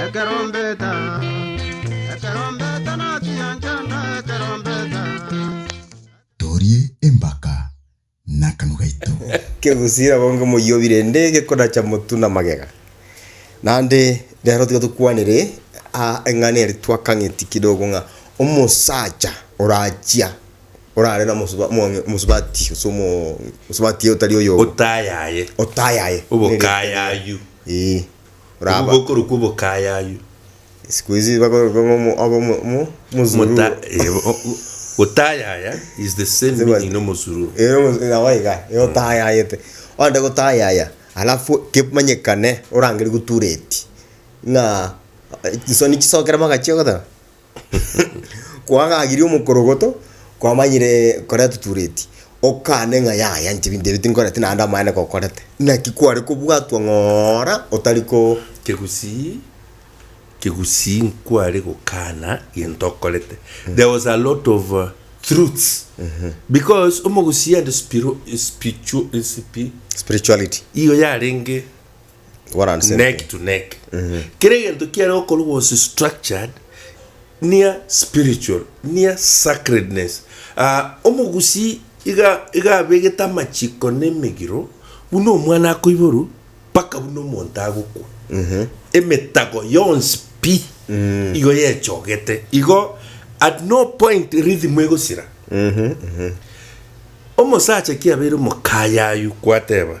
Ekerombeta, ekerombeta nachiya nchanda ekerombeta. Torie embaka nakanwa gaito. Kegusii rabonge moyio birende gekodacha motu na magega. Naende rero tiga tokwanere aa eng'ana eri twakang'eti kidogo ng'a omosacha orachia orare na omosuba omong'e omosubati gose omo omosubatie otari oyomo. Otayaye. Otayaye. Obokayayu. Eeh. Abwo oraba. bokorwa kw'obokayayu. Siku hizi bako- bako- omo- obo- omo- omo- omozururo. Mota- eh, o- o- Gotayaya is the same Sema- meaning n'omosururu. Eh, omosu- eh, awa iga, eh, otayayete. Ogende gotayaya, alafu kemanyekane orangerie gotura eti, ng'a, eh, chisoni chisokere magachia ogoteba. Kwagagirie omokorogoto, kwamanyire koria totureti, okane ng'a yaya inche binto ebi tinkoreti naende amaene kokorete. Naki kware kobwatwa ng'ora otari ko. Kegusii kegusii nkware gokana gento okorete. There was a lot of truths because omogusii and spiro spiritu spiri. Spirituality. Igo yarenge. neck to neck kera egento kiare gokorwa was structured near spiritual near sacredness ah omogusii iga iga abegete amachiko na emegiro buna omwana akoiborwa mpaka buna omonto agokwa emetago yonsi pi igo yechogete igo at no point rhythm egosira omosacha kiabeire omokayayu kwateba.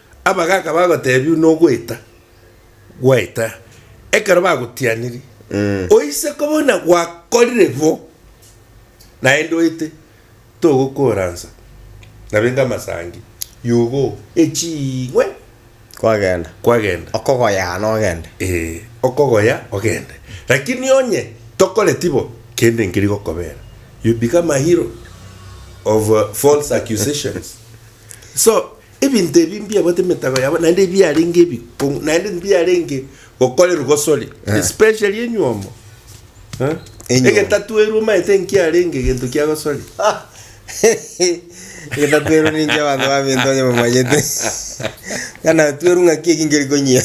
Abagaaka bagotebiwa nogoeta gwaeta ekero bagotianirie, Oise koba buna gwakorire bo, naende oete togokooransa, na benga amasangi y'ugo eching'we Kwagenda. kwagenda. Okogoyaa nogende. Ee, okogoya ogende. Lakini onye tokoreti bo, kende nkeri gokobera. You become a hero of false accusations. So, Ebinto ebi mbiabwate emetago yabo, naende mbiarenge ebikong'u, naende mbiarenge gokorerwa gosore, especially enywomo. Eh? Enywomo. Egetatuerwa omaete nkiarenge egento kia gosore. Egetatuerwa ninche abanto baminto onye bamanyete. Ng'a natuerwa ng'aki eki nkeri konyia.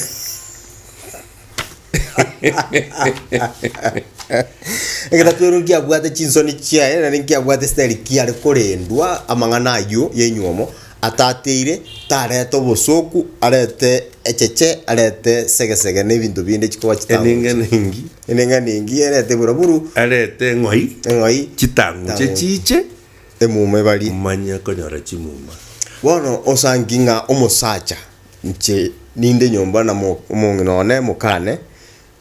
Egetato ero nkiabwate chinsoni chiaye, naende nkiabwate Esteri kiare korendwa amang'ana ayio y'enyuomo, atateire, tarete obosoku, arete echeche, arete segesege na ebinto binde chikoba chitanguche. Enengenengi. Enengenengi erete eburaburu, Arete eng'oi. eng'oi, Chitanguche chiche. emuma ebari. Manye konyora chimuma. Bono osanki ng'a omosacha Inche ninde nyomba na mo- omong'ina one mokane,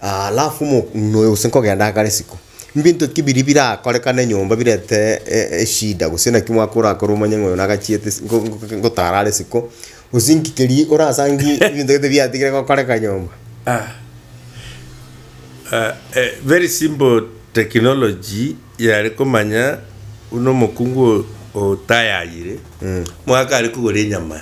alafu omong'ina oyo gose nkogenda agakora esiko. Mbinto ki biria birakorekane nyomba birete e- eshida gose naki omwaka orakore omanye ng'a oyo nagachiete ase ngo- ngo- ngo- ngotara are isiko, gose inki keria orasangie ebinto gete biatigire gokoreka nyomba? very simple technology yare komanya buna omokungu o- otayayire, mwaka are kogora enyama.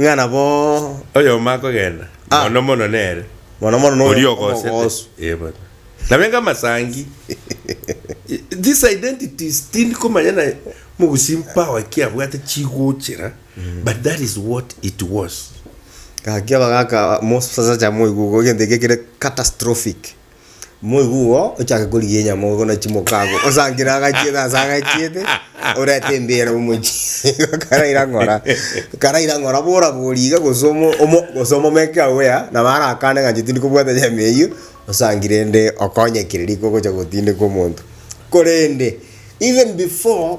ng'a nabo Oyomo akogenda, Ah. mono mono nere mono mono noyo oria ogoosete. omogoosu. Eh, bono. Nabe enga amasangi. These identities tindi komanya na mogusii power ki abwate chigochera, but that is what it was. Gaki abagaka mosasacha moigwe igo egento ekiya kere catastrophic. Moigwa igo, ochake korigia enyama obe buna chimoko agwo, osankire agachiete ase agachiete, orente embeera omochie igo karaira ng'ora, karaira ng'ora bora bori iga gose omo omo gose omomeke agwo ya, nabo arakane ng'a inche tindi kobwata nyama eyio, osankire ende okonyekire rika ogocha gotindeka omonto. Korende, even before.